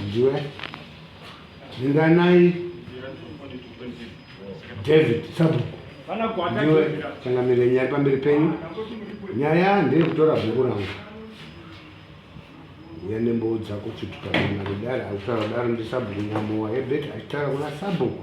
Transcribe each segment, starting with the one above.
ndiwe ringanai david sabhuku ndiwe changamire nyaya pamberi penyu nyaya ndeyekutora bhuku rangu uya nemboo dzako chitukaanadaro akutaura daro ndisabhuku nyamowa ebet achitaura kuna sabhuku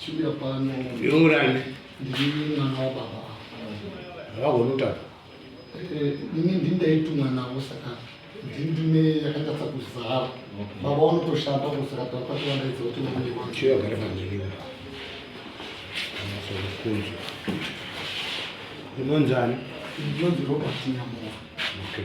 Chiuya pano. Yongurani. Ndiri mwana wababa. Vagona kutanga. Eh, ini ndindaitumwa navo saka ndindine yakanatsa kuzara. Baba vanotoshanda kusaka takavandaidza kuti vamwe vanhu. Chiuya gare pamberi. Amasokuzo. Unonzani? Ndinonzi Robert Nyamora. Okay.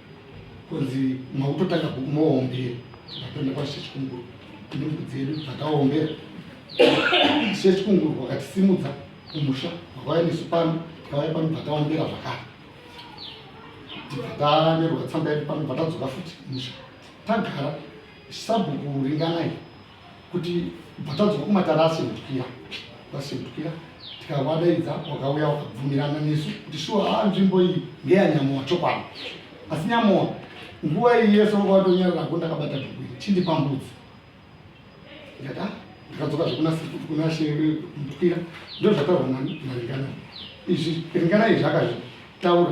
kunzi makutotanga bhuku moombera tatoenda kwashi chechikunguru ndimbu dzedu dzakaombera chechikunguru wakatisimudza kumusha wakauya nesu pano takauya pano takaombera zvakare tikatanyorwa tsamba yedu pano patadzoka futi kumusha tagara sabhuku ringanai kuti patadzoka kumatara asekutukia vasekutukia tikavadaidza wakauya wakabvumirana nesu kuti shuwa haa ah, nzvimbo iyi ngeyanyamowa chokwadi asi nyamowa nguva iyi yese vanga vatonyararako ndakabata bhuku iri chindipa mbudzi ndikati ah, ndikadzoka zvekunashemutukira ndozvataurwa naringana izvi ringana izvi akazvitaura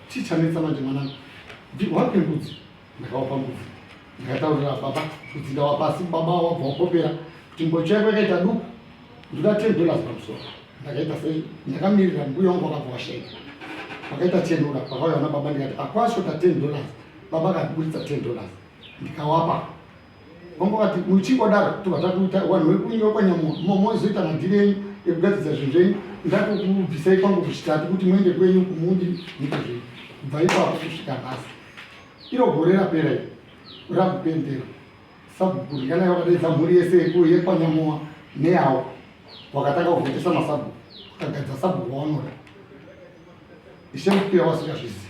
Chii chanetsa manje mwanangu? Wapi mbudzi? Ndakawapa mbudzi. Ndakataurira baba kuti ndawapa asi baba wabva wakopera kuti mbocho yako yakaita duku. Ndoda 10 dollars pamusoro. Ndakaita sei? Ndakamirira mbuya wangu wakabva washaika. Pakaita chenura pakauya vana baba ndikati akwasho ta 10 dollars. Baba akaburitsa 10 dollars. Ndikawapa. Vamwe vati muchingodaro tobva takuita vanhu vekunyika kwanyamuka mozoita madhiri enyu ekugadzirisa zvinhu zvenyu ndatokubvisai kwangu kuchitatu kuti muende kwenyu kumundi nyika zvenyu kubva ipapo kusvika nhasi iro gore rapera iri rakupendera sabhuku rikanai vakadaidza mhuri yese yekuyo yekwanyamuwa neyawo wakatanga kuvhotesa masabhuku akagadzira sabhuku waonoda ishe mupira wasikazvizivi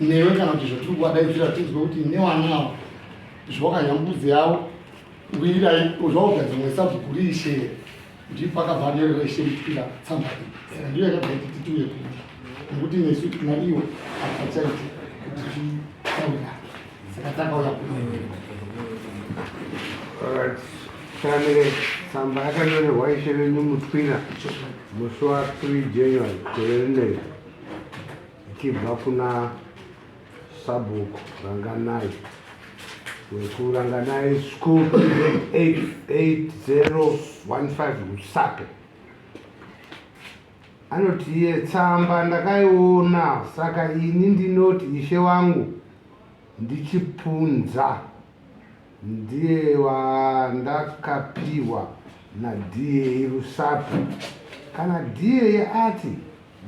newe kana kuti zvatiri kuwadaidzira tinzwe kuti newanawo zvawakanyambudzi yavo wirai zvawabva dzimwe sabhuku riishe kuti pakabva anerera ishe mutira tsamba iyi saka ndiyo yakabva iti tituye kuda nekuti nesu na iwe apachaiti kuti titaura saka takauya kuiwe tanire tsamba yakanyorerwa ishe venyu mutwira musi wa 3 january gore rinei Ichibva kuna sabhuku Ranganai wekuRanganai School 88015 Rusape anoti iye tsamba ndakaiona saka ini ndinoti ishe wangu ndichipunza Ndiye wandakapihwa naDA Rusape. Kana DA ati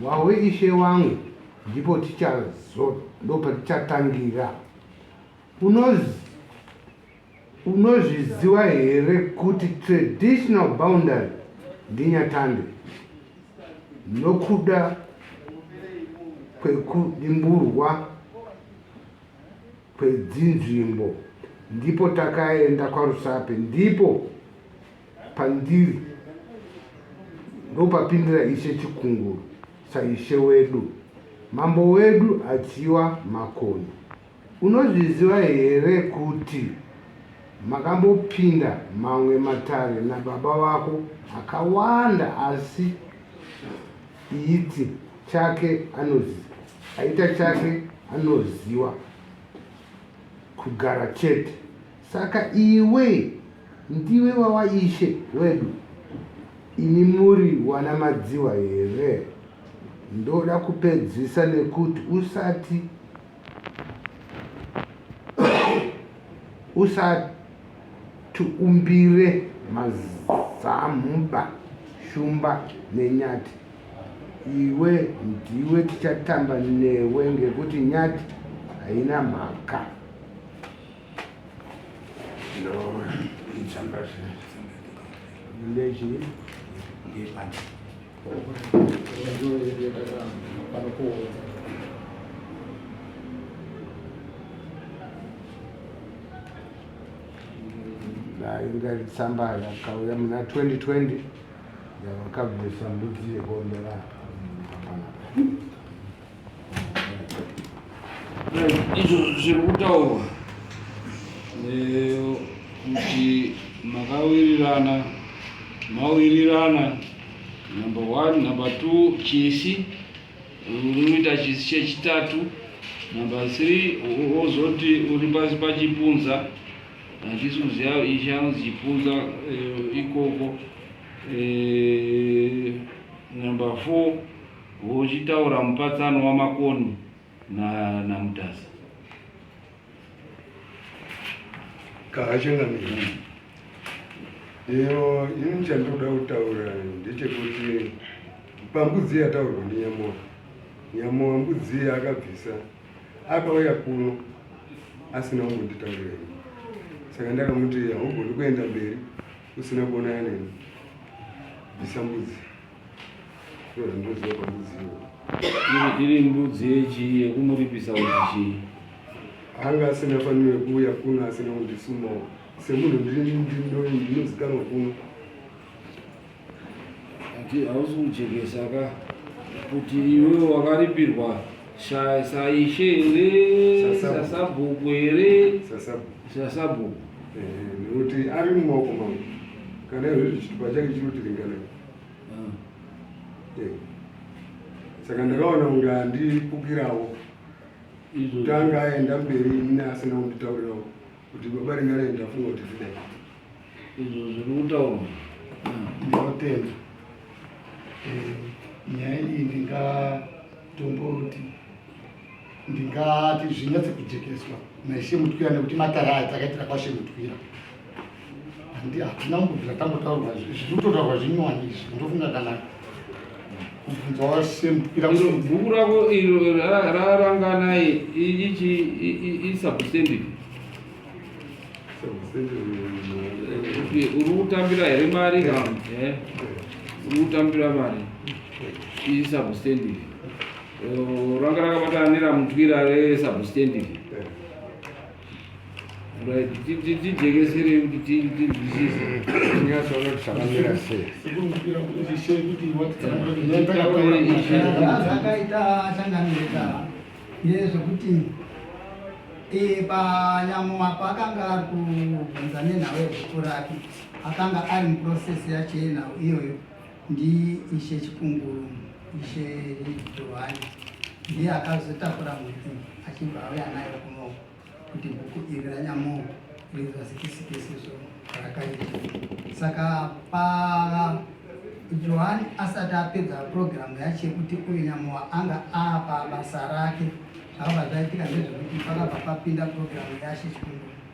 wawe ishe wangu ndipo tichazo ndopatichatangira. Unoz unozviziva here kuti traditional boundary ndinyatande nokuda kwekudimburwa kwedzinzvimbo ndipo takaenda kwarusape ndipo pandiri ndopapindira ishe chikunguru saishe wedu mambo wedu achiwa makoni unozviziva here kuti makambopinda mamwe matare nababa vako akawanda asi iiti chake anoziva Aita chake anoziwa kugara chete saka iwe ndiwe wawaishe wedu imi muri wana madziwa here ndoda kupedzisa nekuti usati usati umbire mazamhuba shumba nenyati iwe ndiwe tichatamba newe ngekuti nyati haina mhaka ndechii nayo ngaritsamba yakauya muna 2020 Ndakabvisa mbudzi yekuombera izvo zviri kutaurwa kuti makawirirana mawirirana number one number two chisi unoita chisi chechitatu number three wozoti uri pasi pachipunza Handisi kuziva ichi anozichipunza eh, ikoko eh, number four vochitaura mupatsano wamakoni namutasa kaachangamira iyo ini chandoda kutaura ndechekuti pambudzi yataurwa nenyamora nyamora mbudzi akabvisa Akauya kuno asina kumbonditaurira ini, saka ndakamuti haugoni kuenda mberi usina kuonana neni, bvisa mbudzi iyo zvindoziva pambudzi iyo iri mbudzi yechii yekumuripisa kuti chii anga asina faniro yekuuya kuno asina kundisumawo semunhu ndinozikanwa kuno ati hausi kujekesa ka kuti iwe wakaripirwa sha- saishe here Sasabhuku. sasabhuku here Sasabu. sasabhuku Eh, nekuti ari mumaoko mangu kana izvozvi chitupa chake chinotiringana Ah. Eh. saka ndakaona kunge andipukirawo izvo kutanga aenda mberi ine asina kunditaurirawo kuti baba ringane ndafunga kuti zvidai izvo zviri kutaurwa ndinotenda eh, nyaya iyi ndingatomboti ndingati zvinyatse kujekeswa naishe mutwira nekuti matara aya takaitira kwashe mutwira handi hatina kumbobvira tambotaurwa zviri kutotaurwa zvinyowani izvi ndofunga kana bhuku rako iro rarangana ichi isubstandard uri kutambira here mari ka eh? uri kutambira mari isubstandard eh, ranga rakabatana neramutwira resubstandard tijekeserei kuti tinzwisise nyatsoona kuti zvakamira sei akaita changanirika yezvekuti panyamwa paakanga ari kubvunza nenhau yezvikuru rake akanga ari muprocess yacho yenhau iyoyo Ndi Ishe Chikunguru, Ishe Johani, ndiye akazotakura mhuku achibva auya nayo kuno kuti bhuku iri ranyamo rizozikisikisizvo rakaita saka pa johani asati apedza purogiramu yacho yekuti uyu nyamuwa anga apa basa rake zvakabva zvaitika ndezvekuti pakabva papinda purogiramu yacho chikuru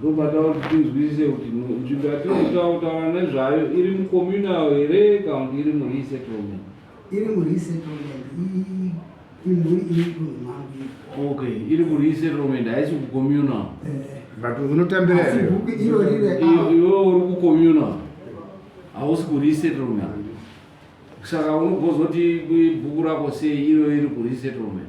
Ndopatava kuti tinzwisise kuti nzvimbo yatirikutaura nezvayo iri mucommunal here kana kuti iri muresettlement? Iri muresettlement imhuri iri kunhumambi. Okay, iri kuresettlement haisi kucommunal. Eh. But unotambira here? Iwe uri kucommunal hausi kuresettlement. Saka unogozoti bhuku rako sei iro iri kuresettlement?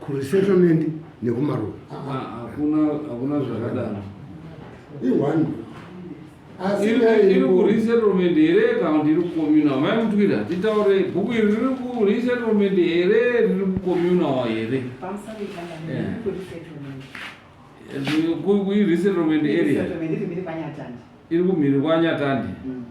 kuresettlement nekumaruwa hakuna zvakadaro ione iri kuresettlement here kana kuti iri kucommunal mai mutwira titaure bhuku iri riri kuresettlement here riri kucommunal here kuresettlement area iri kumhiri kwanyatandi mm-hmm.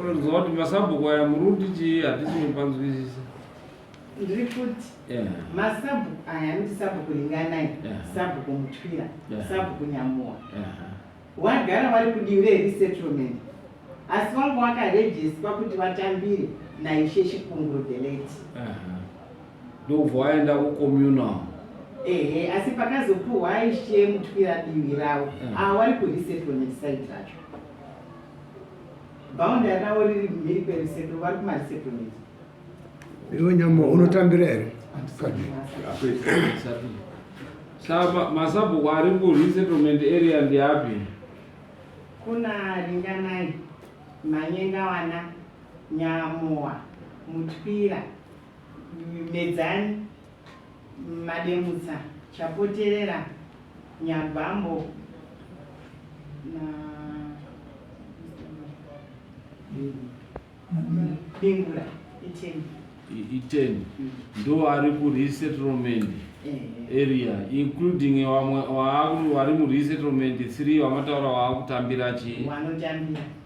unoziva kuti masabhuku aya muri kuti chii hatisi mupanzwisisa ndiri kuti masabhuku aya anoti sabhuku ringanai sabhuku mutwira sabhuku nyamuwa wagara vari kudivi reresettlement asi vanga vakarejeswa kuti vatambire naishe chikunguru the late ndokubva aenda kucommunal ehe asi pakazopuhwa aishe mutwira divi ravo mm. ava wari kuresettlement side racho boundary ravo riri mhiri kweresettlement vari kumaresettlement iwe nyama unotambira here saka masabhuku ari kuresettlement area ndiapi kuna ringanai manyengawana nyamowa mutwira Medzani, Mademutsa, Chapoterera, Nyabambo na Bingura iteni. Iteni mm. ndo ari ku resettlement eh. area including vamwe vari mu resettlement 3 vamataura waakutambira chii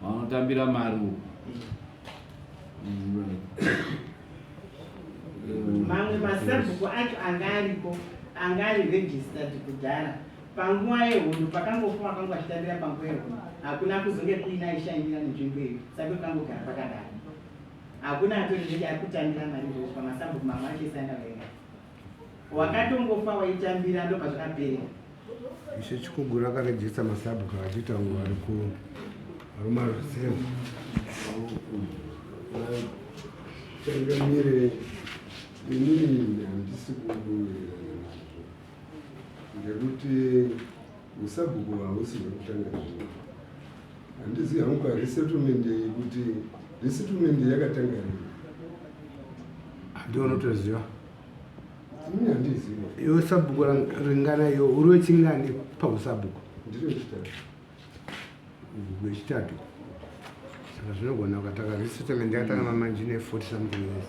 vanotambira maruwa mamwe masabhuku acho anga ariko anga ari registered kudhara panguva yehondo pakangofa vakanga vachitambira panguva yehondo hakuna kuzonge kuina aishainira nenzvimbo iyo sake kangogara pakadaro hakuna atori zvenge ari kutambira mari izvozvo pamasabhuku mamwe acho esaenda vaenda wakatongofa waitambira ndobva zvakapera ishe chikugura akarejesta masabhuku achiita nguva ari ku aruma rusemu changamire inini handisi kubuirana nazvo ngekuti musabhuku hausi hwekutanga zvino Handizi hangu ka resettlement iyi kuti resettlement yakatanga rini. Ndiwe unotoziva. Ini handiziva. Iwe sabhuku ringana iyo uri wechingani pausabhuku? Ndiri wechitatu. Wechitatu. Saka zvinogona ukatanga resettlement yakatanga mamanji ne 40 something years.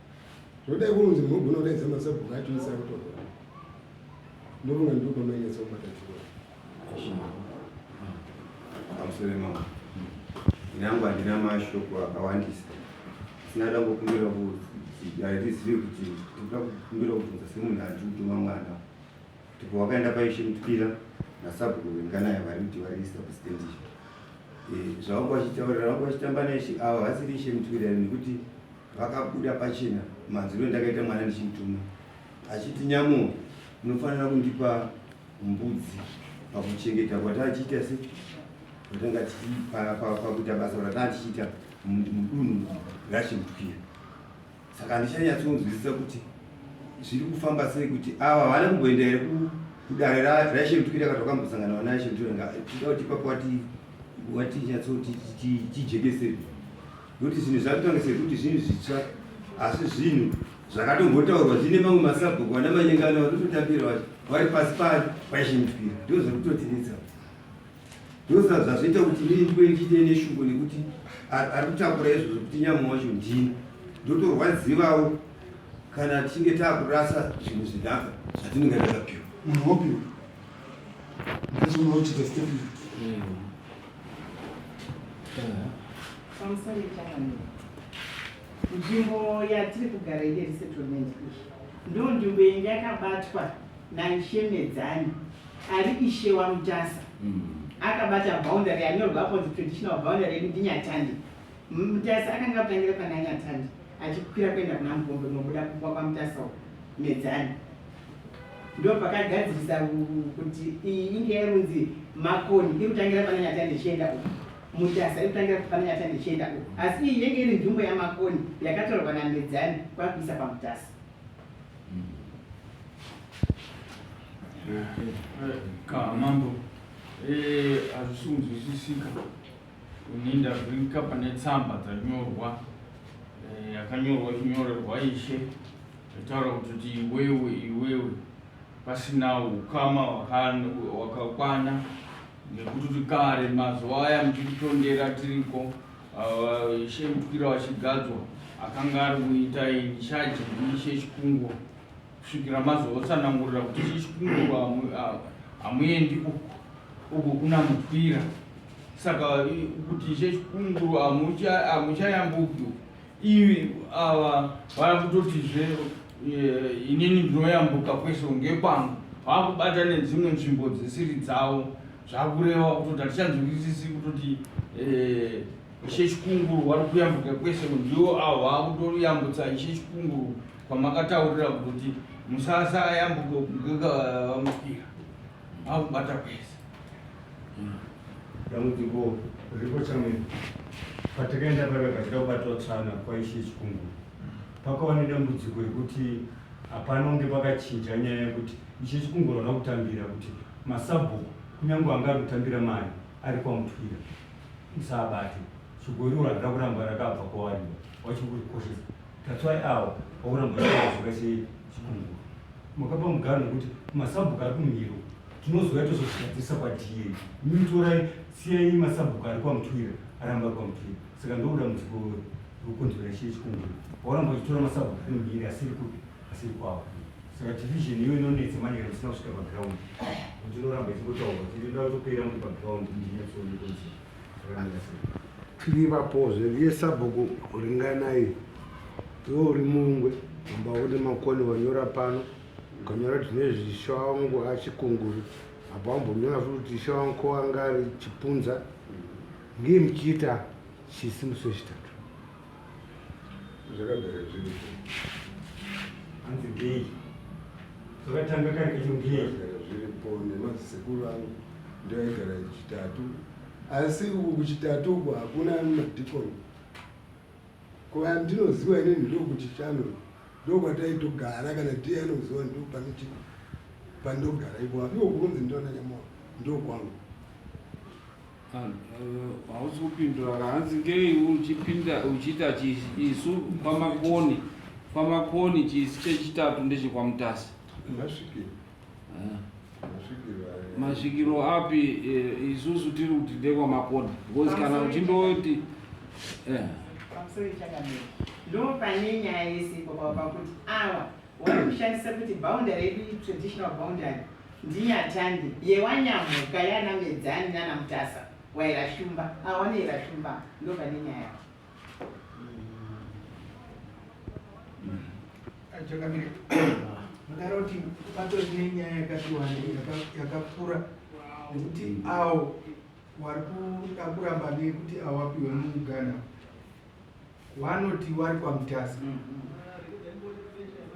Zvodai kunzi mhogo unodaidza masabhuku acho isa kutorwa. Ndovona ndiko mainyatsa kubata chikoro. Amusore mama. Nyangu handina mashoko akawandisa. Sina dango kumbira kuti harizivi kuti tikuda kumbira kubvunza semunhu ari kutuma mwana. Tipo wakaenda paishe mutwira nasabhuku venganaye vari kuti vari substandish. Eh, zvavanga vachitaurira vanga vachitamba naishe ava vasiri ishe mutwira nekuti Vakabuda pachena madziro endakaita mwana ndichimutuma achiti nyamo unofanira kundipa mbudzi pakuchengeta kwatanga tichiita se kwatanga pakuita basa ratanga tichiita mudunhu rachimutwira saka handichanyatsonzwisisa kuti zviri kufamba sei kuti ava havana kumboenda here kudare raishemutwira kati wakambosangana vana ishemutwira tida kuti ipapo wati wati nyatsoti tijekeseri nokuti zvinhu zvakutanga sekuti zvinhu zvitsva asi zvinhu zvakatombotaurwa zvine mamwe masabhuku vana manyengana vatototambira vacho vari pasi pari vaishinipira ndo zvekutotinetsa ndosa zvazvoita kuti inini ndive ndichiite neshungu nekuti ari kutakura izvozvo kuti nyama wacho ndini ndotorwadzivawo kana tichinge taakurasa zvinhu zvinaka zvatinenge takapiwa munhu wopiwa ndizvinochita stepment mm. nzvimbo yatiri kugara ine resettlement iyi ndo nzvimbo yenyu yakabatwa naishemedzani ari ishe wamutasa mm. akabata boundary yanyorwapo traditional boundary yedu ndinyatandi mutasa akanga atangira pananyatandi achikwira kuenda kuna Mupombe kunobuda kumba kwaMutasa uko Medzani ndo pakagadzirisa kuti iyi inge yainzi makoni iri kutangira pana nyata ndichienda uko mutasa iri kutangira pana nyata ndichienda uko asi iyi yenge iri nzvimbo yamakoni yakatorwa namedzani kwakuisa pamutasa kamambo eh, hazvisunzwisisika Ini ndavhurika pane tsamba dzanyorwa eh, yakanyorwa e, chinyorerwa ishe itaura kuti iwewe iwewe pasina ukama wakakwana nekuti kuti kare mazuva aya muchititondera tiriko uh, ishe mutukira wachigadzwa akanga ari kuita ini shaji ishe chikungo kusvikira mazotsanangurira kuti chii chikunguru hamuendi uku uku kuna mutwira saka kuti che chikunguru hamuchayambuki uku ivi ava vava kutotizve eh, inini ndinoyambuka kwese unge kwangu vava kubata nedzimwe nzvimbo dzisiri dzavo zvakureva kutoti hatichanzwisisi kutoti eh, ishe chikunguru wari kuyambuka kwese ndiwo avo vava kutoyambutsa ishe chikunguru kwamakataurira kuti musasa ayambuka vamukira vakubata kwese dambudziko riripo chamwene patakaenda paiva kachida kubatwa tsvana kwaishe chikungu pakava nedambudziko rekuti hapana unge pakachinja nyaya yekuti ishe chikungu rana kutambira kuti masabhuku kunyange anga ari kutambira mari ari kwamutwira musaabate chigoriwo randira kuramba rakabva kwawariwa wachikuri koshesa That's why awo okuramba zvakazoka chikungu makapa mugano wekuti masabhuku ari kumiro tinozouya tozozvigadzirisa kwadii mitorai siyai masabhuku ari kwamutwira aramba ari kwamutwira saka ndokuda mudziko rokonzera chiye chikungu wauramba uchitora masabhuku ari mumiri asiri kupi asiri kwavo saka division iyo inonetsa manje kana musina kusvika paground kuti inoramba ichingotaurwa kuti inoda kutopera muri paground ndinyatsoonekonsera tiriva poze riye sabhuku ringanai iwe uri mungwe amba une makoni wanyora pano ukanyora kuti nezvisha wangu achikunguru apa wambonyora futi kuti isha wangu ko anga ari chipunza ngei muchiita chisimuso chitatu zvakagara zviri hanzi gei zvakatanga kari kechingei zviripo nemazisekuru angu ndio aigara chitatu asi uku kuchitatu uku hakuna madikoni kuva ndinoziva inini ndokuti chano ndokwataitogara kana ndiye anoziva ndo pane chi pandogara ipo apiwo kunzi ndona nyamao ndokwangu hausi kupindura kahanzi ngei uchipinda uchiita isu kwamakoni kwamakoni chisi chechitatu ndechekwamutasi masvikiro eh. api eh, isusu tiri kuti ndekwamakoni because kana uchindoti eh. pamusoro ichakamira ndo pane nyaya yese pakuti awa Wari kushandisa kuti boundary yedu traditional boundary ndinyatande yewanyamhuka yana medzani nana mutasa wairashumba awane ah, irashumba ndova nenyaya chakamira magara kuti patori nenyaya yakatiwanda yakakura nekuti awo wari kuda kuramba nekuti awapiwe muugana wanoti wari kwamutasa mm, mm.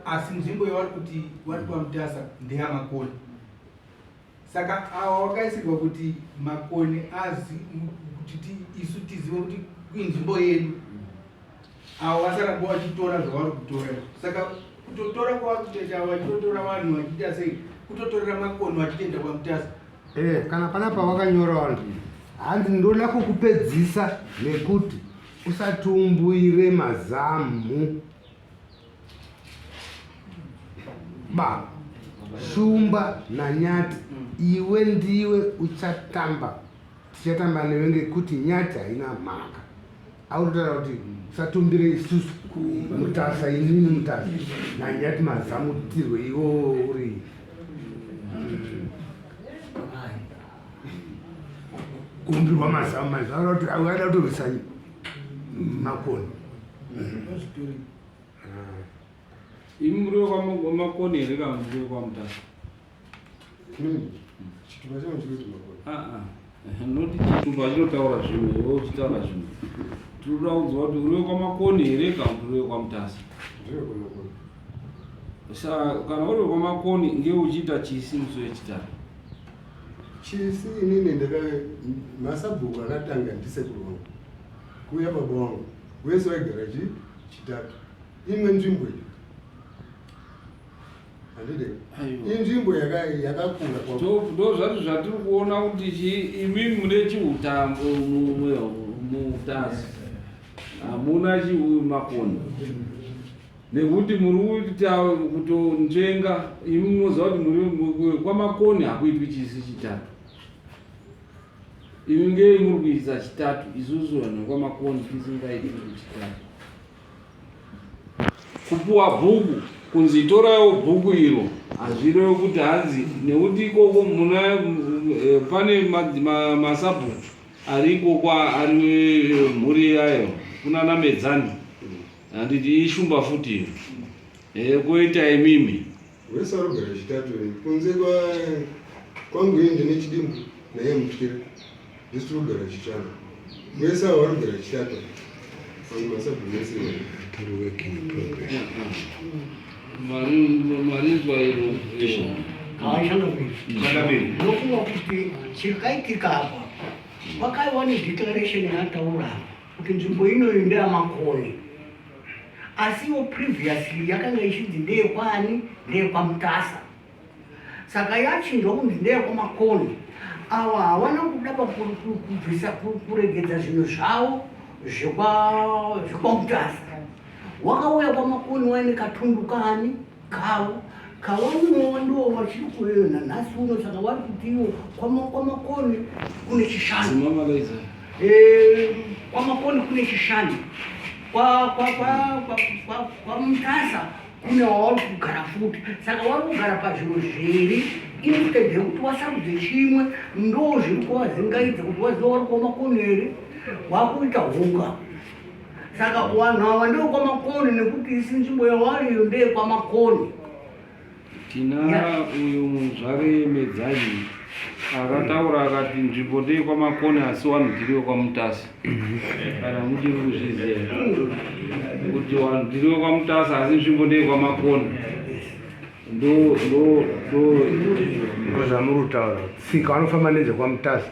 asi nzvimbo yawari kuti wari kwamutasa ndeyamakoni saka awa wakaisirwa kuti makoni azi kuti isu tizive kuti inzvimbo yedu awa wasaramba wachitora zvawari kutora saka kutotora kwawari kutoita wachitotora vanhu wachiita sei kutotorera makoni wachitoenda kwamutasa Eh, kana pana pawakanyora wandi handi ndoda kukupedzisa nekuti usatumbuire mazamu ba shumba nanyati iwe ndiwe uchatamba tichatamba newe ngekuti nyati haina mhaka Aunotaura kuti usatumbire isusu mutasa inini mutasa nanyati mazamutirwe iwo uri kuumbirwa mazamu manje aida kutorwisa makoni imuriwo kwamakoni here kana muriwo kwamutasa chitupa chino chikuti makore ah, ah. noti chitupa chinotaura zvimwe iwe uchitaura zvimwe tinoda kuziva kuti uriwe kwamakoni here kana kuti uriwe kwamutasa sa kana uriwe kwamakoni nge uchiita chisi musi wechitatu chisi inini ndaka masabhuku akatanga ndisekuru wangu kuuya baba wangu wese waigara chitatu imwe nzvimbo iyo handide inzvimbo yakakura ndo zvati zvatiri kuona kuti chii imimi mune chiutambo muutasi hamuna chiuyu makoni nekuti muri kuita kutonzvenga imi munoziva kuti muri kwamakoni hakuitwi chisi chitatu imi ngei muri kuisa chitatu isusu vanhu vekwamakoni tisingaitwi kuchitatu kupuwa bhuku kunzi toraiwo bhuku iro hazvirevi kuti hanzi nekuti ikoko muna eh, pane masabhuku ari ikoko ari eh, mhuri yayo kunana medzani handiti ishumba futi iyo eh, koita imimi Wese arogara chitatu iri kunze kwa kwangu ini ndine chidimbu naye mutyira ndisi tiri kugara chitano wese avo varogara chitatu vanhu masabhumese marinzwa iro ndofunga kuti chikaitika apa vakaiwa nedeclaration yataura kuti nzvimbo inoyo ndeyamakoni asi iwo previously yakanga ichinzi ndeyekwani ndeyekwamutasa saka yachinjwa kunzi ndeyekwamakoni awa hawana kuda pakubvisa kuregedza zvinhu zvavo zvekwamutasa wakauya kwamakoni waine katundu kani Kawo kawaunowa ndiwo wachiri kuveyo nanhasi uno saka wari kutiwo kwamakoni kune chishanu kwamakoni kune chishanu kwamutasa kune wauri kugara futi saka wari kugara pazvinhu zviri instead yekuti wasarudze chimwe ndo zviri kuvazingaidza kuti waziva wari kuwa makoni here wakuita hunga saka kuvanhu ava ndevekwamakoni nekuti isi nzvimbo yawariyo ndeyekwamakoni tina uyu muzvare medzanyi akataura akati nzvimbo ndeyekwamakoni asi wanhu tiri wekwamutasa kana muchiri kuzviziva kuti wanhu tiri wekwamutasa asi nzvimbo ndeyekwamakoni ndozvamurutaura tsika vanofamba nezvekwamutasa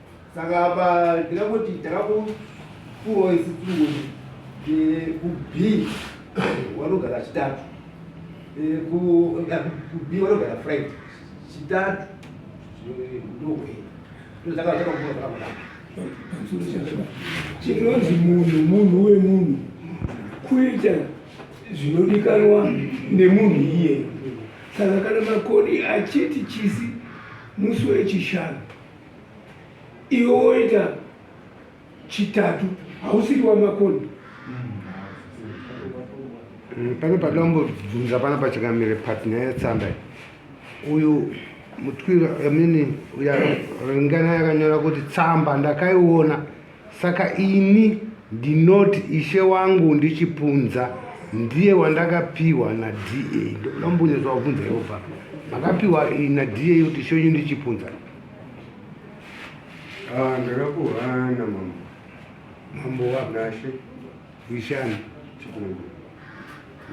saka apa ndingangoti takakupuwa isi tungoni eh, kub wanogara chitatu eh, kub eh, wanogara friday chitatu ndokwei ndozaka takakupuwa zvakakudaro chinonzi munhu munhu wemunhu kuita zvinodikanwa nemunhu iyeyo saka kana makoni achiti chisi musi wechishanu iwe woita chitatu hausiri wamakoni mm, pane padambobvunza pana pachakamire patna yetsamba uyu mutwira amini uya ringana yakanyora kuti tsamba ndakaiona Saka ini ndinoti ishe wangu ndichipunza ndiye wandakapiwa na DA ndoda mumbonyatsa kubvunza ivo bva makapiwa na DA kuti ishe wenyu ndichipunza ah, ndakakuhana mambo mambo wanashe ishani chikungu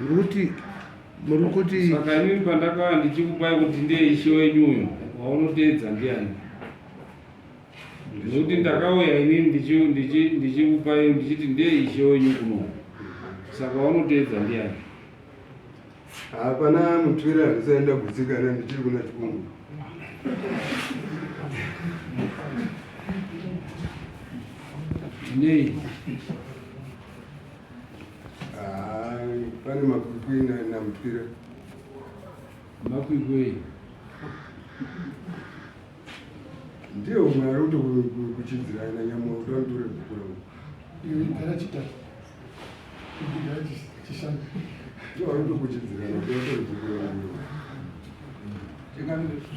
ndikuti muri kuti saka inini pandakava ndichikupai kuti ndiye ishe wenyu uyu waunoteedza ndiani Ndinokuti ndakauya ini ndichikupai ndichiti ndiye ishe wenyu kuno, saka wanoteedza ndiyani? Hapana mutwira andisaenda kutsikana ndichiri kuna chikungu. Nei? Ah, pane makwikwi namutwira. Makwikwi? ndiye umwe ari kutokuchidzirai nanyamuwa kuti vanotore bhuku rangu iwe gara chitatu gara chishanu ndiye ari kutokuchidzirai kuti vatore bhuku rangu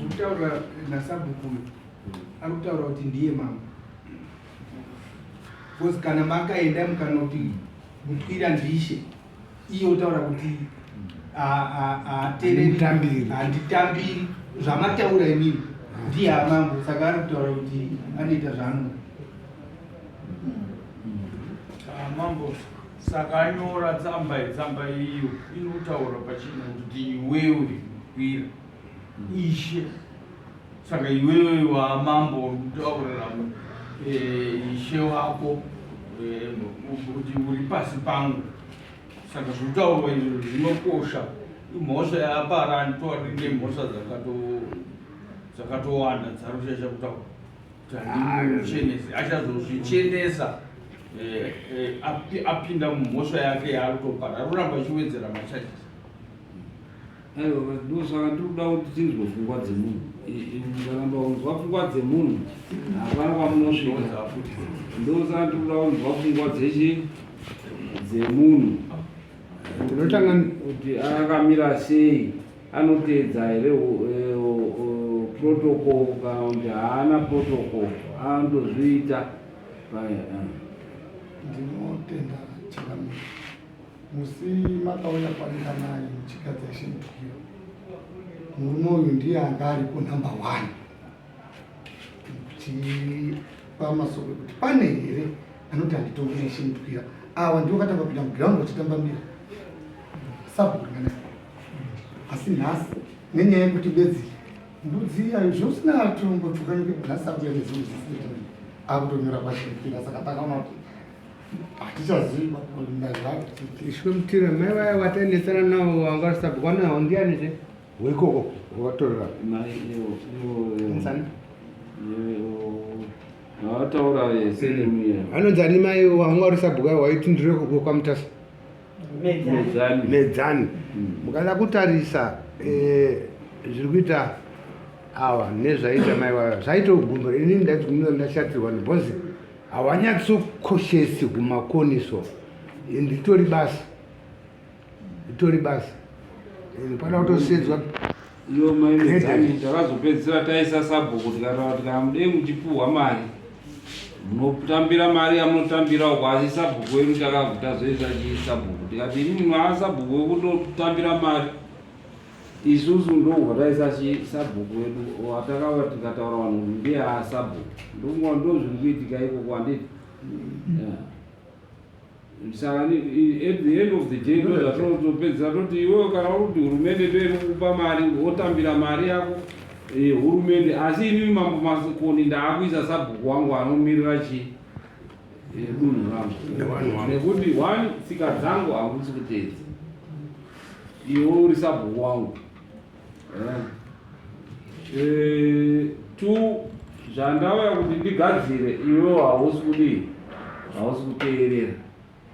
kutaura nasabhuku ari kutaura kuti ndiye mama bcause kana makaenda mukanoti mutwira ndishe iye otaura kuti handitambiri zvamataura imini ndiye amangu saka ari kutaura kuti anoita zvaanoda mambo saka anyora tsamba tsamba iyo inotaura pachina kuti iwewe wira Ishe. Saka iwewe wamambo utaurira eh, ishe wako eh, kuti uri pasi pangu. Saka zvitaurwa izvo zvinokosha. Imhosva yapara anditori nemhosva dzakatowanda dzarushesha kutaura kuti handimuchenesi achazozvichenesa eh, apinda mumhosva yake yaari kutopara ari kuramba achiwedzera machajisi aiwa but ndosaka ndiri kuda kuti tinzwe pfungwa dzemunhu mukaramba kunzwa pfungwa dzemunhu hapana kwamunosvika ndosaka ndiri kuda kunzwa pfungwa dzechi dzemunhu tinotanga kuti akamira sei anoteedza here eh, protocol kana kuti haana protocol anotozviita paya eh. ndinotenda chikamira Musi makauya kwanika nani muchigadza shimukiro, murume uyu ndiye anga aripo number one kuchipa masoko ekuti pane here anoti handitongere shimukira awa ndiwo katanga kupinda muground vachitamba mira sabhurana asi nhasi nenyaya yekuti bedzi mbudzi yayo zvousina atombo tukanike nhasi akuya nezimwe zisina akutonyora kwashimukira saka takaona kuti hatichaziva ishwe mutira mai vaya vatainetsana navo vanga vasabhukwa nawo ndiani zve weikoko watorera vataura vese nemuya anonzi ani mai wanga uri sabhuka waiti ndiri kuko kwamutasa medzani mm. mukada kutarisa eh, zviri kuita awa nezvaita mai vaya zvaita ugumbo ini ndaiti ndashatirwa nebhozi hawanyatsokoshesi kumakoni so and itori basa itori basa and pana kutosedzwa iyo maimedzani takazopedzisira taisa sabhuku tikataura kuti kana mudei muchipuhwa mari munotambira mari yamunotambirawo kwasi sabhuku wedu takabvutazoisa chii sabhuku tikati inini mwana sabhuku wekutotambira mari Isusu ndobva taisa sabhuku wedu watakava tikataura vanhu kuti ndiye asabhuku ndonguva ndozviri kuitika ikoko handiti mm. saka at the end of the day ndozvatinotopedzisa toti iwewe kana uri kuti hurumende ndoiri kukupa mari wotambira mari yako eh, hurumende asi inini mambo masikoni ndaakuisa sabhuku wangu anomirira chii eh, dunhu rangu nekuti one tsika dzangu hakusi kuteedza Iwe uri sabhuku wangu eh. Eh, tu zvandauya kuti ndigadzire iwe hausi kudii hausi kuteerera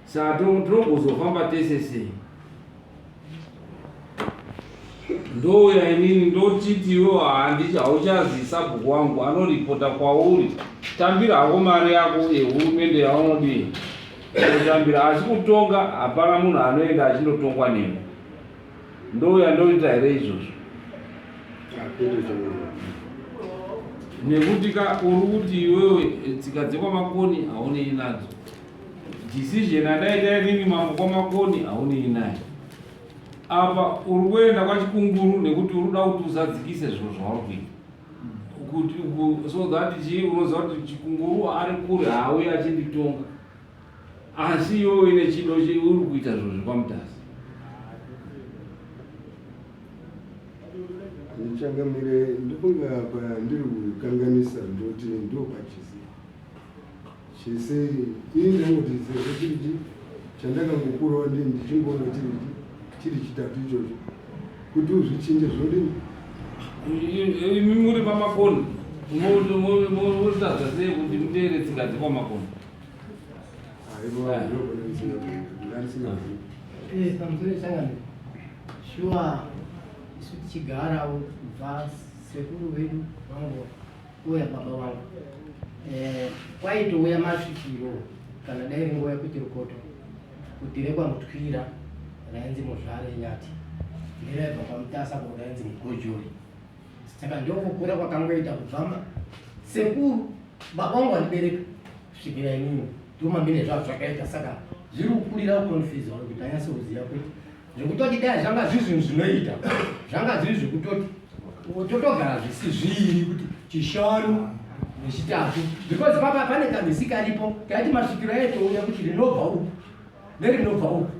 saa tinogozofamba tese sei ndouya inini ndotiti iwe handiti hauchazi sabhuku wangu anoripota kwauri tambira hako mari yako yehurumende yaunodii Kutambira asi kutonga hapana munhu anoenda achindotongwa nemi. Ndoo yandoita here izvozvo? Nekuti ka uri kuti iwewe tsika dzekwamakoni haunei nadzo. Decision andaita inini mambo kwamakoni haunei naye. Apa uri kuenda kwachikunguru nekuti uri kuda kuti uzadzikise zviro zvauri kuita. so that chii unoziva kuti chikunguru ari kure haauye achinditonga asi iwewe ine chido uri kuita zvinhu zvekwamutasi ndichangamire ndikunga apa ndiri kukanganisa ndoti ndopachisi chese ini ndangotidzirwa chiriti chandakangokurawo ndi ndichingoona chiriti chiri chitatu ichocho kuti uzvichinje zvodini imi muri pamakono motadza sei kuti muteere tsinga dzekwamakono pamusoro changani shuwa isu tichigarawo bva sekuru vedu vangoa Uya baba wangu eh, kwaitouya masvikiro kana dai ringuva yekuti rukoto kuti rekwamutyira rainzi muzvare nyati neraibva kwamutasa ko rainzi mugojori saka ndokukura kwakangoita kubvama sekuru baba wangu vandibereka svikira inini ndoma mine zvavo zvakaita saka zviri kukurira ukonfiza kuti tanyase kuziva kuti zvekutoti dai zvanga zviri zvinhu zvinoita zvanga zviri zvekutoti totogara zvisizviri kuti chishanu nechitatu because papa pane kamisi karipo kaiti masvikiro aitouya kuti rinobva uku nerinobva uku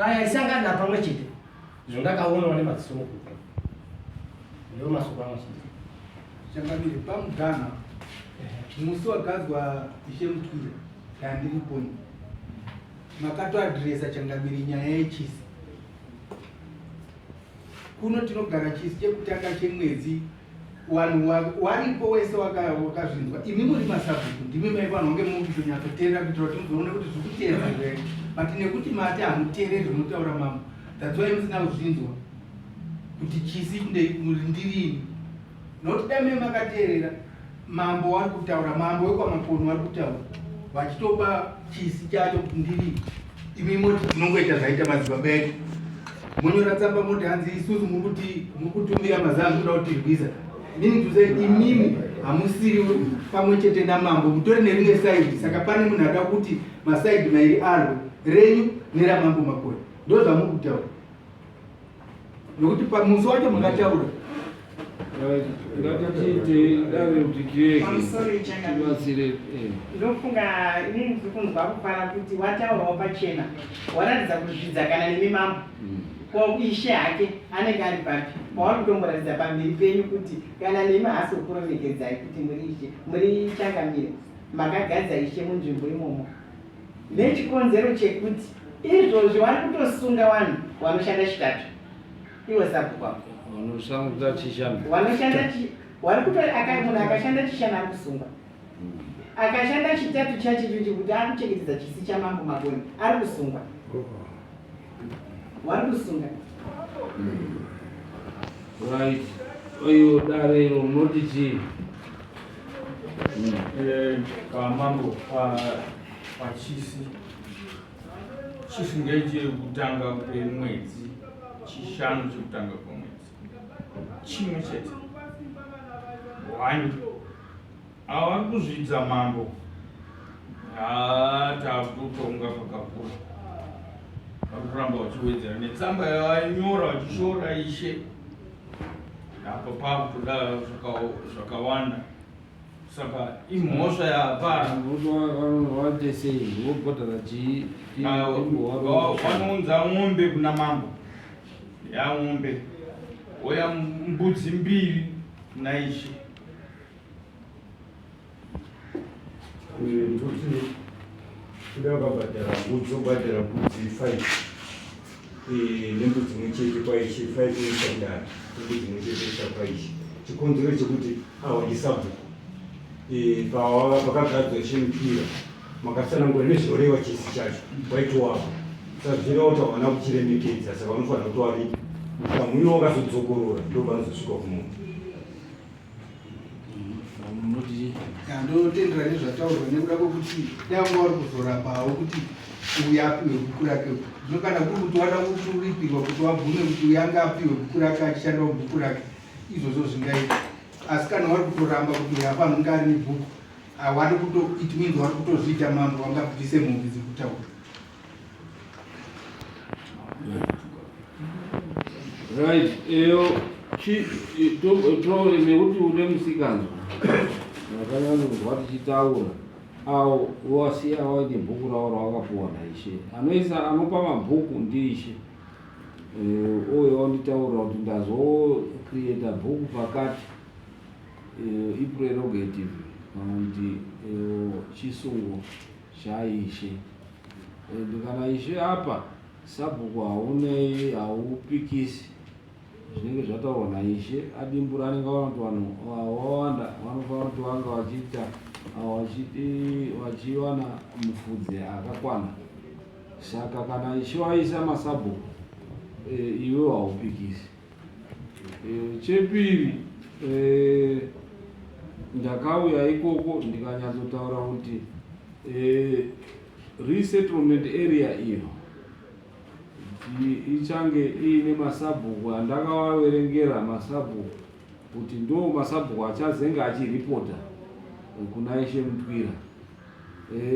aya isangana pamwe chete izvo ndakaonawo nemadziso mukupa ndo masoko anochinzi chakabiri pamugana musi wagadzwa ishe mutwira yandiri poni makatoadresa changamire nyaya yechisi kuno tinogara chisi chekutanga chemwedzi wanhu waripo wese wakazvinzwa imi muri masabhuku ndimi mai vanhu vange mukutonyatsoteerera kuitira kuti muzoone kuti zviri kuteerera here but nekuti mati hamuteereri zvinotaura mama that's why musina kuzvinzwa kuti chisi ndeirindirini nokuti dame makateerera Mambo vari kutaura, mambo wekwaMaponi vari kutaura vachitopa chisi chacho kuti ndiri imi moti tinongoita zvaita madzibaba edu monyora tsamba moti hanzi isusu muri kuti muri kutumira mazaa kuda kuti tirwiza mini tuze imimi hamusiri pamwe chete namambo mutori nerimwe saidi saka pane munhu ada kuti masaidi mairi arwo renyu neramambo makoni ndo zvamuri kutaura nokuti pamusi wacho makataura ngatitiitei dave kuti tiregebatsire eh. ndofunga inini ndiri kunzwa kufara kuti wataurawo pachena waratidza kuzvidza kana nemi mambo mm. ko ishe hake anenge ari papi pauri kutomboratidza pamberi penyu kuti kana nemi haasi kukuremekedzai kuti muri ishe muri changamire makagadza ishe munzvimbo imomo Nechikonzero chekuti izvozvi wari kutosunga wanhu wanoshanda chitatu. Iwe sabhuku wako. Wanoshanda chishanu. Wanoshanda chishanu. Wari kutori akaimuna akashanda chishanu ari kusungwa. Hmm. Akashanda chitatu chachitu chekuti ari kuchengetedza chisi chamambo maboni ari kusungwa. Oh. Warusunga. Hmm. Right. Oyo dare ro munoti chii? Hmm. Eh, kamambo pa pachisi. Chisi ngeche kutanga kwemwedzi chishanu chekutanga kwemwedzi. Chimwe chete. One. Ava vari kuzviita mambo. Haa takutonga pakakura. Vari kuramba vachiwedzera netsamba yavainyora vachishora ishe. Apo pakutoda zvakawanda. Saka imhosva yapara. Vanoite sei? Vobhodhara chii? Vanounza mombe kuna mambo. Yamombe. Oya mbudzi mbiri naishe. chikonzero chekuti awaji sabhuku pakagadzwa chemupira makasanangura nezvinoreva chisi chacho waitowapo saka zvinoita vana kuchiremekedza saka vanofanira kuti wari mukamwino wakazodzokorora ndovanozosvika kumunhu ndotendera nezvataurwa nekuda kwekuti nyangwa wari kuzorapawo kuti uyu apiwe buku rake zvino kana kuri kuti wada kuti uripirwa kuti wabvume kuti uyu ange apiwe buku rake achishandawo buku rake izvozvo zvingaita asi kana wari kutoramba kuti uyu afanhu kunge ari nebhuku awari kuto it means wari kutozviita mambo wangabvise mhovi dzekutaura Right, eyo nekuti une musikanzwa vakanyanzwa tichitaura awo wasiya waine bhuku ravo rawakapuwa naishe anoisa anopa mabhuku ndiishe uye eh, wanditaurira kuti ndazocreata bhuku pakati eh, iprerogative and eh, chisungo chaIshe and kana Ishe apa sabhuku haunei haupikisi zvinenge zvataurwa naIshe adimbura anenge aona kuti vanhu wawanda vanofanira kuti vanga vachiita vachiwana mufudze akakwana saka kana Ishe waisa masabhuku eh, iwe haupikisi Eh, chepiri eh, ndakauya ikoko ndikanyatsotaura kuti eh, resettlement area iyo ichange iine masabhuku andakavaverengera masabhuku kuti ndo masabhuku achazenge achiripota kuna ishe mutwira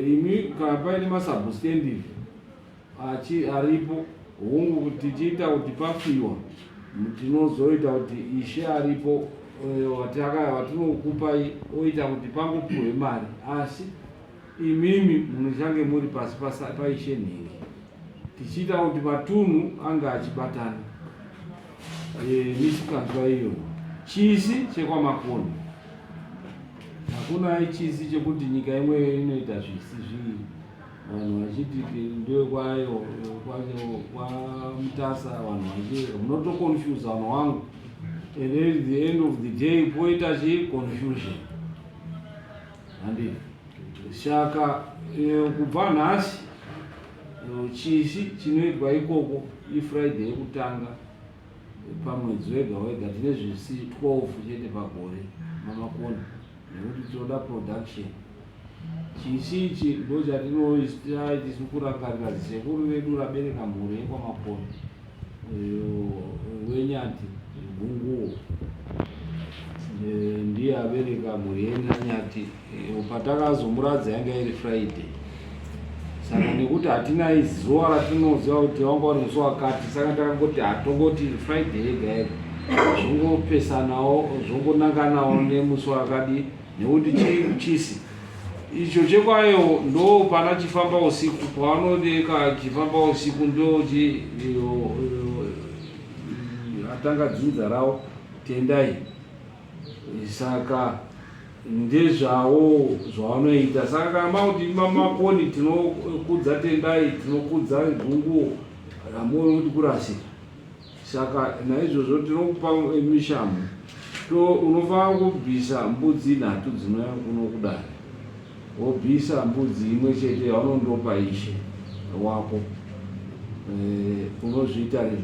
imi kana paine masabhusitendi achi aripo hungu kuti tichiita kuti pafiwa tinozoita kuti ishe aripo eh, wataka- watinokupai oita kuti pangopiwe mari asi imimi munochange muri pasi pasa- paishe nhingi tichiita kuti matunhu ange achibatana Eh, misikanzwa iyo chisi chekwamakoni hakuna chisi chekuti nyika imwe inoita zvisi zvii vanhu vachiti ndewekwayo kwamutasa vanhu vachii munotoconfuse vanhu wangu and then the end of the day poita chii confusion handi saka eh, kubva nhasi eh, chishi chinoitwa ikoko ifriday yekutanga pamwedzi wega wega tine zvisi 12 chete pagore mamakoni nekuti tinoda production chisi ichi ndo chatinoistai tisu kurangarira zisekuru vedu rabereka mhuri yekwamakoni wenyati gunguwo ndiye abereka mhuri yenyati patakazomuradza yanga iri friday saka nekuti hatina zuva ratinoziva kuti wanga uri musi wakati saka ndakangoti hatongoti friday yega yega zvongopesanawo zvongonanganawo nemusi wakadi nekuti chii chisi icho chekwayo ndo pana chifamba usiku paanodeka chifamba usiku ndochi atanga dzinza rawo tendai saka ndezvawo zvavanoita saka kana makuti mamakoni tinokudza tendai tinokudza gunguwo ramuone kuti kurasika saka naizvozvo tinokupa mishamu to unofanira kubvisa mbudzi nhatu dzinouya kuno kudari wobvisa mbudzi imwe chete yaunondopa ishe wako eh, unozviita rini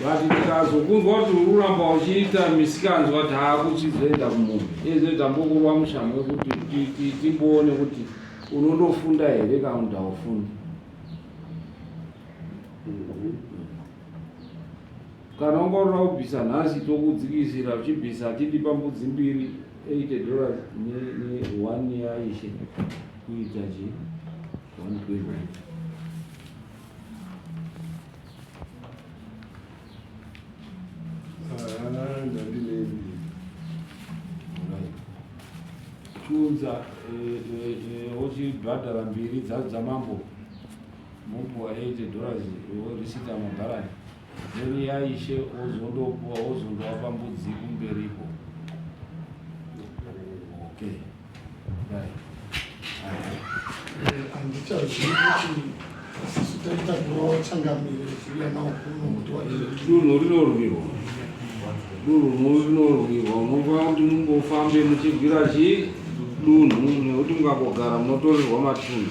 but ndikazokunzwa kuti uri kuramba uchiita misikanzwa taakuchizoenda kumunhu iyezve tambokurwa mushamo wekuti timboone kuti unondofunda here kana kuti haufundi kana ungaurira kubvisa nhasi tokudzikisira uchibvisa titi pambudzi mbiri 8 dollars ne one yaishe chiunza ochibhadhara mbiri dzadzo dzamambo mobhuwa 80 dollars worisita mabharani Then ya ishe wozondopuwa wozondowapa mbudzi kumberiko. Okay. Dai. Handichazivi kuti sisi taita kurowa changamire kuuya nawo kuno kuti waende. Dunhu rinorwirwa. Dunhu rinorwirwa. Unofana kuti mumbofambe muchibvira chii dunhu nekuti mukangogara munotorerwa matunhu.